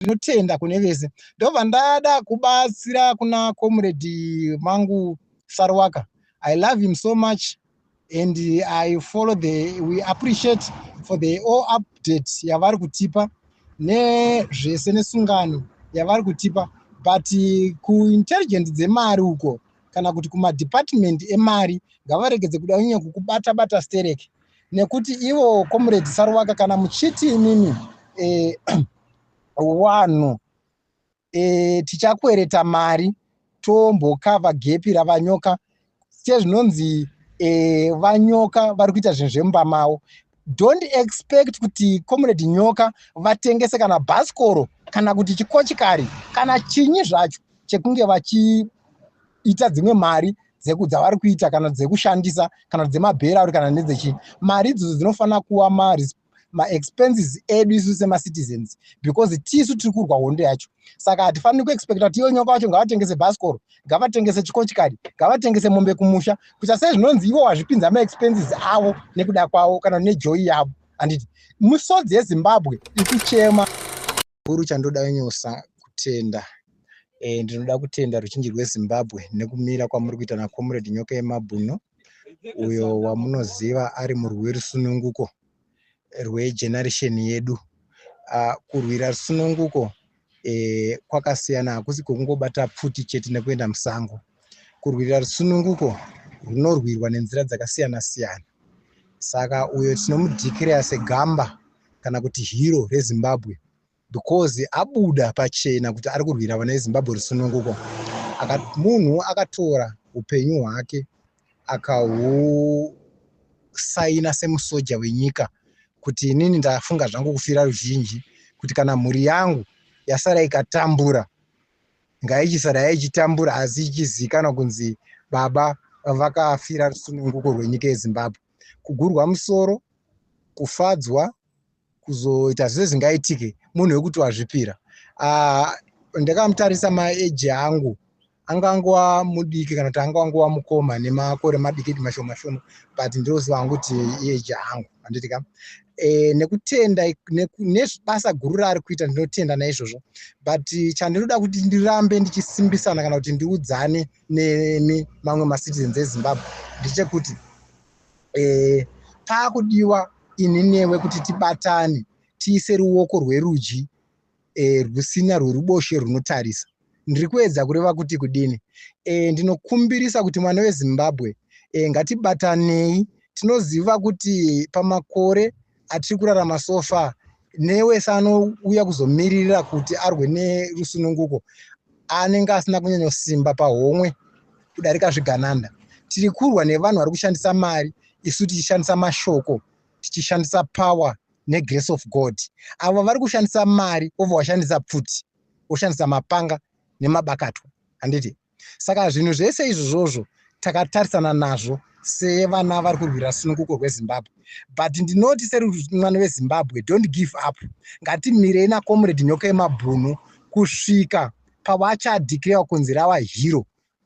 ndinotenda kune vese ndobva ndada kubatsira kuna comrade mangu sarwaka i love him so much and i follow the we appreciate for the all update yavari kutipa nezvese nesungano yavari kutipa but kuintelligent dzemari uko kana kuti kumadepartment emari ngavaregedze kuda unyanya kukubata bata stereki nekuti ivo comrade saruvaka kana muchiti imimi eh, wanhu eh, tichakwereta mari tombokava gepi ravanyoka sezvinonzi eh, vanyoka vari kuita zvinhu zvemumba mavo don't expect kuti comrade nyoka vatengese kana bhasikoro kana kuti chikochikari kana chinyi zvacho chekunge vachiita dzimwe mari dzeku dzavari kuita kana dzekushandisa kana dzemabhera auri kana nedzechii mari idzodzo dzinofanira kuva maexpenses edu isu semacitizens because tisu tiri kurwa hondo yacho saka hatifaniri kuexpecta kuti iyo nyoka wacho ngavatengese bhasikoro ngavatengese chikochikari ngavatengese mombe kumusha kuita sei zvinonzi ivo wazvipinza maexpenses avo nekuda kwavo kana nejoyi yavo handiti misodzi yezimbabwe ikuchema uru chandoda wenyosa kutenda E, ndinoda kutenda ruzhinji rwezimbabwe nekumira kwamuri kuita nacomrade nyoka yemabhuno uyo wamunoziva ari murwi werusununguko rwegeneration yedu uh, kurwira rusununguko e, kwakasiyana hakusi kwekungobata pfuti chete nekuenda musango kurwira rusununguko runorwirwa nenzira dzakasiyana siyana saka uyo tinomudhikireya segamba kana kuti hero rezimbabwe because abuda pachena kuti ari kurwira vana vezimbabwe rusununguko munhu akatora upenyu hwake akahusaina semusoja wenyika kuti inini ndafunga zvangu kufira ruzhinji kuti kana mhuri yangu yasara ikatambura ngaichisara yaichitambura asi ichizivikanwa kunzi baba vakafira rusununguko rwenyika yezimbabwe kugurwa musoro kufadzwa kuzoita zvese zvingaitike munhu wekuti wazvipira ah, ndakamutarisa maeji angu anga angova mudiki kana kuti anga angova mukoma nemakore madiki di mashoma shoma but ndinoziva hangu kuti ieji angu handiti ka e, nekutenda nebasa guru raari kuita ndinotenda naizvozvo but chandinoda kuti ndirambe ndichisimbisana kana kuti ndiudzane nemi mamwe macitizens ezimbabwe ndechekuti eh, paakudiwa ini newe kuti tibatane tiise ruoko rwerudyi eh, rwusina rweruboshe rwunotarisa ndiri kuedza kureva kuti kudini eh, ndinokumbirisa kuti mwana wezimbabwe eh, ngatibatanei tinoziva kuti pamakore atiri kurarama so far newese anouya kuzomiririra kuti arwe nerusununguko anenge asina kunyanyosimba pahomwe kudarika zvigananda tiri kurwa nevanhu vari kushandisa mari isu tichishandisa mashoko tichishandisa power negrace of god avo vari kushandisa mari ova washandisa pfuti woshandisa mapanga nemabakatwa handiti Saka zvinhu zvese izvozvozvo takatarisana nazvo sevana vari kurwira sununguko rwezimbabwe but ndinoti serimwana wezimbabwe don't give up ngatimirei nacomrade nyoka yemabhunu kusvika pavachadhikrewa kunzi rava hero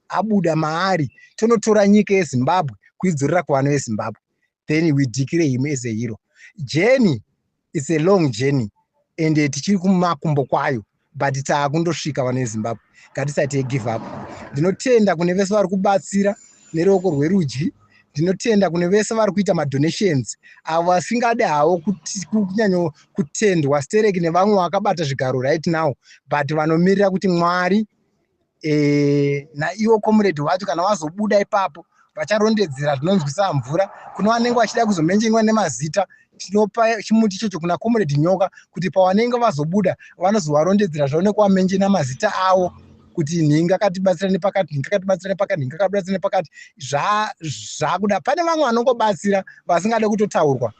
abuda maari tonotora nyika yezimbabwe kuidzorera kuvana vezimbabwe then we declare him as a hero jeni its a long journey and eh, tichiri kumakumbo kwayo but taakundosvika vana vezimbabwe ngatisati yegive up ndinotenda kune vese vari kubatsira neruoko rwerudyi ndinotenda kune vese vari kuita madonations avo vasingade havo kunyanyo kutendwa stereki nevamwe vakabata zvigaro right now but vanomirira kuti mwari e, naiwo comrade wacho kana wazobuda ipapo vacharondedzera zvinonzwisa mvura kune vanenge vachida kuzomenjenywa nemazita tinopa chimuti ichocho kuna comrade nyoka kuti pavanenge vazobuda vanozovarondedzera zvaoneke wamenje namazita avo kuti nhinga katibatsira nepakati nhinga katibatsira nepakati nhinga katibatsira nepakati zvakuda pane vamwe vanongobatsira vasingade kutotaurwa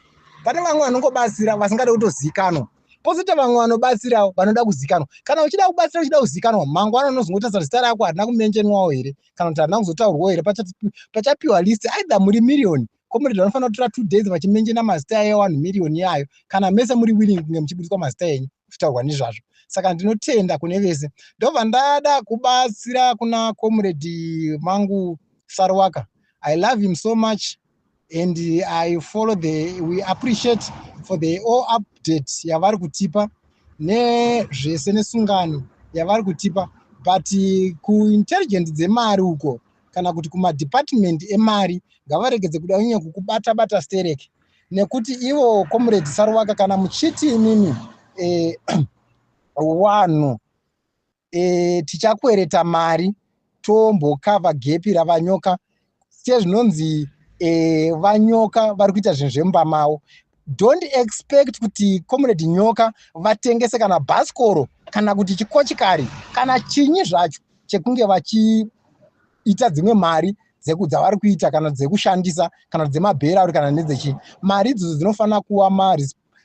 pane vamwe vanongobatsira vasingade kutozikanwa pozoita vamwe vanobatsirawo vanoda kuzikanwa kana uchida kubatsira uchida kuzikanwa mangwana unozongotasa kuti zita rako harina kumenjenwawo here kana kuti harina kuzotaurwawo here pachapiwa list aidha muri miriyoni comrade vanofanira kutora two days vachimenjena mazita eyo one miriyoni yayo kana mese muri willing kunge muchibudiswa mazita enyu kutaurwa nezvazvo saka ndinotenda kune vese ndobva ndada kubatsira kuna comrade mangu sarwaka i love him so much and i follow the we appreciate for the all update yavari kutipa nezvese nesungano yavari kutipa but kuintelligent dzemari uko kana kuti kumadepartment emari ngavaregedze kuda unye kukubata bata sterek nekuti ivo comrade saruvaka kana muchiti imimi eh, wanhu e, tichakwereta mari tombokava gepi ravanyoka sezvinonzi e, vanyoka vari kuita zvinhu zvemumba mavo don't expect kuti comrade nyoka vatengese kana bhasikoro kana kuti chikochikari kana chinyi zvacho chekunge vachiita dzimwe mari dzavari kuita kana dzekushandisa kana dzemabhera uri kana nedzechii mari idzodzo dzinofanira kuva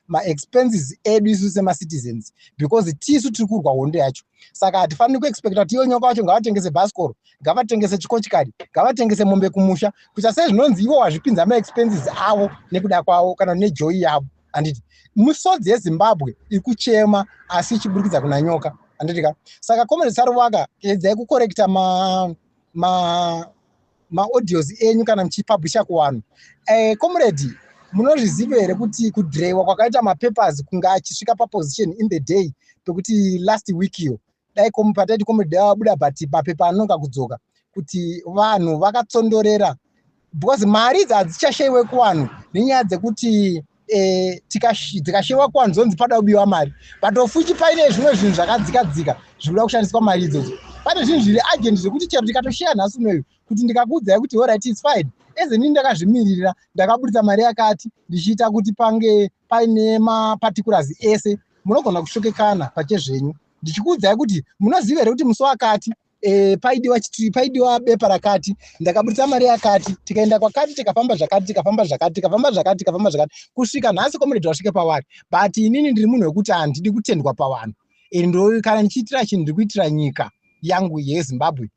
maexpenses edu isu semacitizens because tisu tiri kurwa hondo yacho saka hatifaniri kuexpecta kuti iyo nyoka wacho ngavatengese bhasikoro ngavatengese chikochikari ngavatengese mombe kumusha kuita sei zvinonzi ivo wazvipinza maexpenses avo nekuda kwavo kana nejoyi yavo handiti misodzi yezimbabwe iri kuchema asi ichiburikidza kuna nyoka handiti ka saka comrade saruvaka edzai kukorekta ma, ma maaudios enyu kana muchipublisha kuwanhu eh, comrade eh, munozviziva here kuti kudrewa kwakaita mapapers kunge achisvika paposition in the day pekuti last week iyo dai pataiti comrade abuda but mapepa anonga kudzoka kuti vanhu vakatsondorera because mari idzi hadzichashaiwe kuvanhu nenyaya dzekuti eh, tikashewa kwanzonzi pada kubiwa mari but ofuchi paine zvimwe zvinhu zvakadzika dzika zvikuda kushandiswa mari idzodzo pane zvinhu zviri agent zvekuti chero ndikatosheya nhasi unoyu kuti ndikakuudzai kuti orit its fine eze ndini ndakazvimiririra ndakaburitsa mari yakati ndichiita kuti pange paine maparticulazi ese munogona kushokekana pachezvenyu ndichikuudzai kuti munoziva here kuti musi wakati e, paidiwa chitiri paidiwa bepa rakati ndakaburitsa mari yakati tikaenda kwakati tikafamba zvakati tikafamba zvakati tikafamba zvakati tikafamba zvakati kusvika nhasi komuredhi wasvike pavari but inini ndiri munhu wekuti handidi kutendwa pavanhu and ndo kana ndichiitira chinhu ndiri kuitira nyika yangu yezimbabwe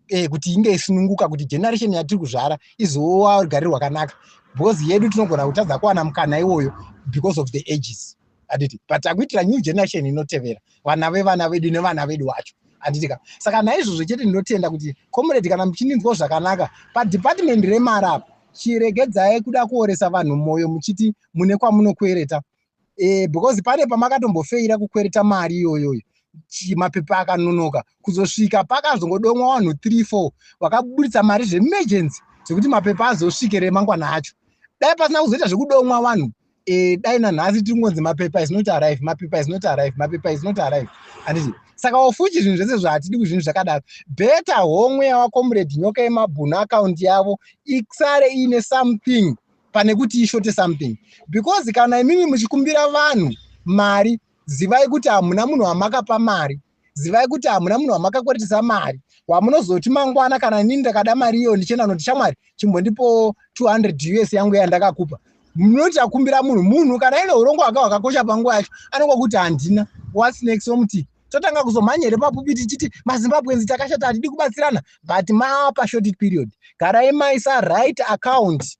e, kuti inge isununguka kuti generation yatiri kuzvara izowa rugare rwakanaka because yedu tinogona kutadza kuwana mukana iwoyo because of the ages handiti but takuitira new generation inotevera vana vevana vedu nevana vedu wacho handiti ka saka naizvozvo chete ndinotenda kuti comrade kana muchindinzwa zvakanaka padepartment remari apo chiregedzai kuda kuoresa vanhu mwoyo muchiti mune kwamunokwereta e, because pane pamakatombofaira kukwereta mari iyoyoyo mapepa akanonoka kuzosvika pakazongodomwa vanhu 34 vakaburitsa mari zvemegency zvekuti mapepa azosvike remangwana acho dai pasina kuzoita zvekudomwa vanhu e, dai nanhasi tiri kungonzi mapepa is not arrive mapepa is not arrive mapepa is not arrive handiti saka wafuchi zvinhu zvese zvahatidi kuzvinhu zvakadaro beta homwe yavakomrade nyoka yemabhunu akaunti yavo isare iine something pane kuti ishote something because kana imimi muchikumbira vanhu mari zivai kuti hamuna munhu wamakapa mari zivai kuti hamuna munhu wamakakweretesa mari wamunozoti mangwana kana inini ndakada mari iyo ndichienda noti shamwari chimbondipo 200 us yangu yandakakupa munoti akumbira munhu munhu kana ine urongo hwaka hwakakosha panguva yacho anenge kuti handina whats next omuti totanga kuzomhanya here papupi tichiti mazimbabwenzi takashata hatidi kubatsirana but mapashorted period garai maisa right account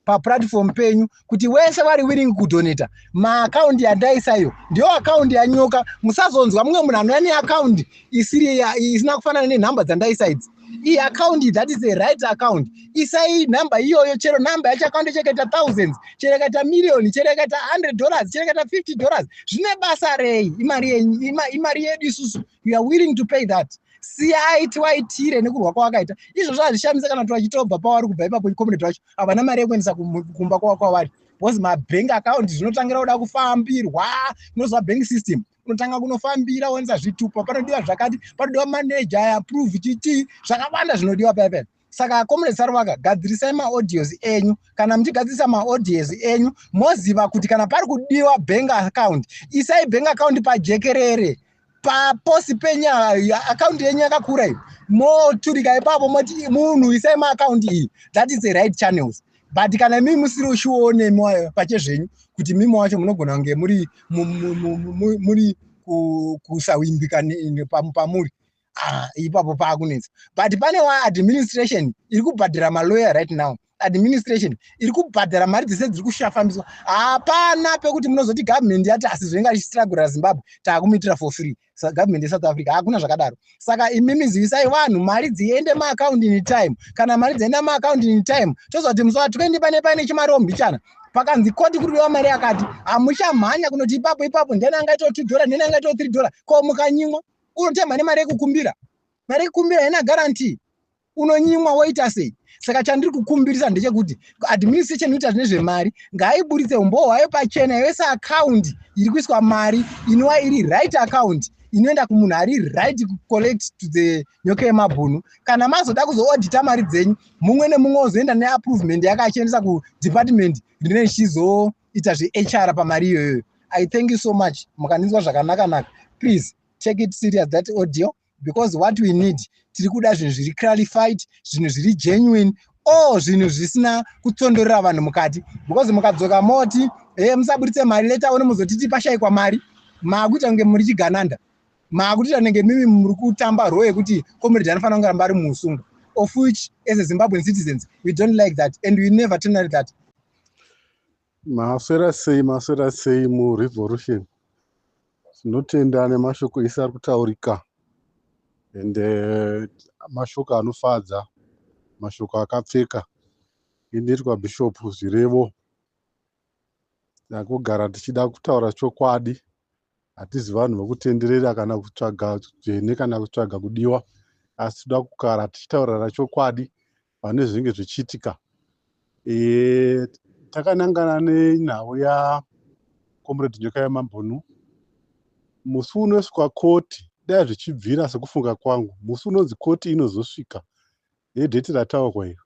paplatform penyu kuti wese wari willing kudoneta maakaundi yandaisaiyo ndiyo akaundi yanyoka musazonzwa mumwe munhu anouya neakaundi isiri isina kufanana nenhamba dzandaisa idzi iyi akaundi that is a right account isai nhamba iyoyo chero nhamba yacho akaundi chekaita thousands chero ikaita miriyoni chero ikaita hundred dollars chero ikaita fifty dollars zvine basa rei imari yenyu imari yedu isusu you are willing to pay that siyai tiwaitire nekurwa kwawakaita izvozvo hazvishamise kana kuti vachitobva pavari kubva ipapo community vacho havana mari yekuendesa kumba kwakwavari because mabank account zvinotangira kuda kufambirwa unoziva bank system unotanga kunofambira woenza zvitupa panodiwa zvakati panodiwa manager approve chitii zvakawanda zvinodiwa paipai saka comrade saruvaka gadzirisai maaudios enyu kana muchigadzirisa maaudios enyu moziva kuti kana pari kudiwa bank account isai bank account pajekerere paposi penyu akaunti yenyu yakakura iyo moturika ipapo moti munhu isai maakaunti iyi that is the right channels but kana imii musiri ushione pache zvenyu kuti mimi wacho munogona kunge muri muri kusawimbika pamuri ah, ipapo paakunetsa but pane wa administration iri kubhadhara malawyer right now administration iri kubhadhara mari dzese dziri kushafambiswa hapana pekuti munozoti government yati asi zvoinge achistragura zimbabwe taakumitira for free government yesouth africa hakuna zvakadaro saka imimi zivisai vanhu mari dziende maakaundi in time kana mari dzienda maakaundi in time toziva kuti musoa twendi pane paine chimariwo mbichana pakanzi koti kuri kudiwa mari yakati hamuchamhanya kunoti ipapo ipapo ndeni angaitawo two dollar ndeni angaitawo three dollar ko mukanyimwa unotemha nemari yekukumbira mari yekukumbira haina guarantee unonyimwa woita sei saka chandiri kukumbirisa ndechekuti administration inoita zvine zvemari ngaiburitse umbowo hwayo pachena yose akaundi iri kuiswa mari inova iri right akaundi inoenda kumunhu ari right kucollect to the nyoka yemabhunu kana mazoda kuzoodita mari dzenyu mumwe nemumwe ozoenda neapprovement yake achiendesa kudepartment rine chizo ita zvehr pamari iyoyoyo i thank you so much mukandinzwa zvakanaka naka please take it serious that audio because what we need tiri kuda zvinhu zviri clarified zvinhu zviri genuine o zvinhu zvisina kutsondorera vanhu mukati because mukadzoka moti e eh, musaburitse mari leta one muzotiti pashayikwa mari maakuita kunge muri chigananda maakutiita nenge mimi muri kutamba roo yekuti comrade anofanira kunge ramba ari muusungu of which as a zimbabwean citizens we don't like that and we never tonerate that Maswera sei maswera sei murevolution. Tinotenda nemashoko ese ari kutaurika and uh, mashoko anofadza mashoko akapfeka inoitwa bishop zvirevo nakugara tichida kutaura chokwadi hatizi vanhu vokutenderera kana kutsvaga dzvene kana kutsvaga kudiwa asi toda kugara tichitaurira chokwadi pane zvinenge zvichiitika e, takanangana nenhau ya comrade nyoka yamambunu musi unosvika koti dai zvichibvira sekufunga kwangu musi unonzi koti inozosvika nedheti rataurwa iro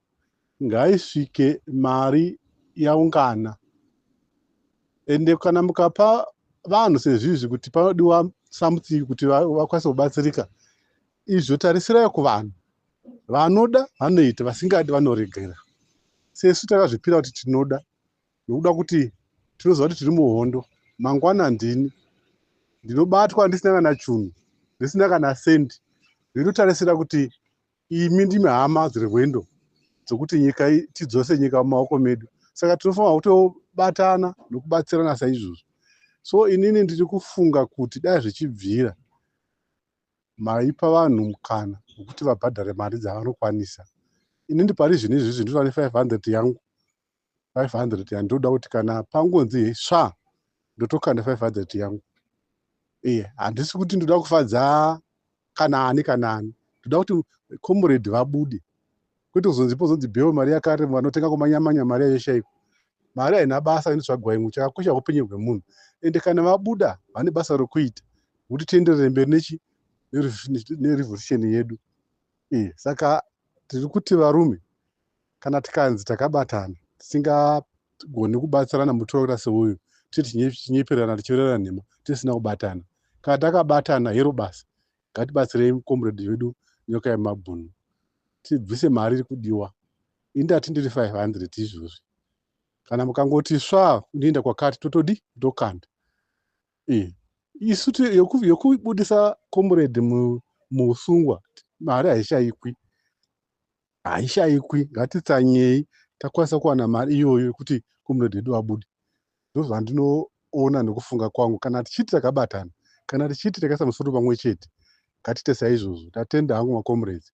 ngaisvike mari yaungana ende kana mukapa vanhu sezvizvi kuti panodiwa something kuti vakwanise kubatsirika izvo tarisirai kuvanhu vanoda vanoita vasingadi vanoregera sesu takazvipira kuti tinoda nokuda kuti tinoziva kuti tiri muhondo mangwana ndini ndinobatwa ndisina kana chunhu ndisina kana sendi ndinotarisira kuti imi ndimi hama dzirwendo dzokuti nyika tidzose nyika mumaoko medu saka tinofanira kutobatana nokubatsirana saizvozvo so inini ndiri kufunga kuti dai zvichibvira maipa vanhu mukana wekuti vabhadhare mari dzavanokwanisa inini pari zvinhu izvi zvinhu zvane 500 yangu 500 yandinoda kuti kana pangonzi he sva ndotokanda 500 yangu iye handisi kuti ndoda kufadza kana ani kana ani ndoda kuti comrade vabude kwete kuzonzi pozonzi bheo mari yakare vanotenga kumanyamanya mari yayo shaiko mari haina basa inotsvagwa imwe chakakosha upenyu hwemunhu ende kana vabuda vane basa rokuita kuti tienderere mberi nechi nerevolution yedu iyi eh, saka tiri kuti varume kana tikanzi takabatana tisingagoni kubatsirana mutora seuyu tiri tinyeperana tichiverera nhema tisina kubatana kana takabatana hero basa ngatibatsirei comrade vedu nyoka yemabhunu tibvise mari iri kudiwa ini ndati ndiri 500 izvozvi kana mukangoti sva unoenda kwakati totodi tokanda eh, isu yokubudisa comrade muusungwa mari haishayikwi haishaikwi ngatitsanyei takwanisa kuwana mari iyoyo yekuti comrade hedu abude ndozvandinoona nekufunga kwangu kana tichiti takabatana kana tichiti takaisa musoro pamwe chete ngatite saizvozvo tatenda hangu macomrades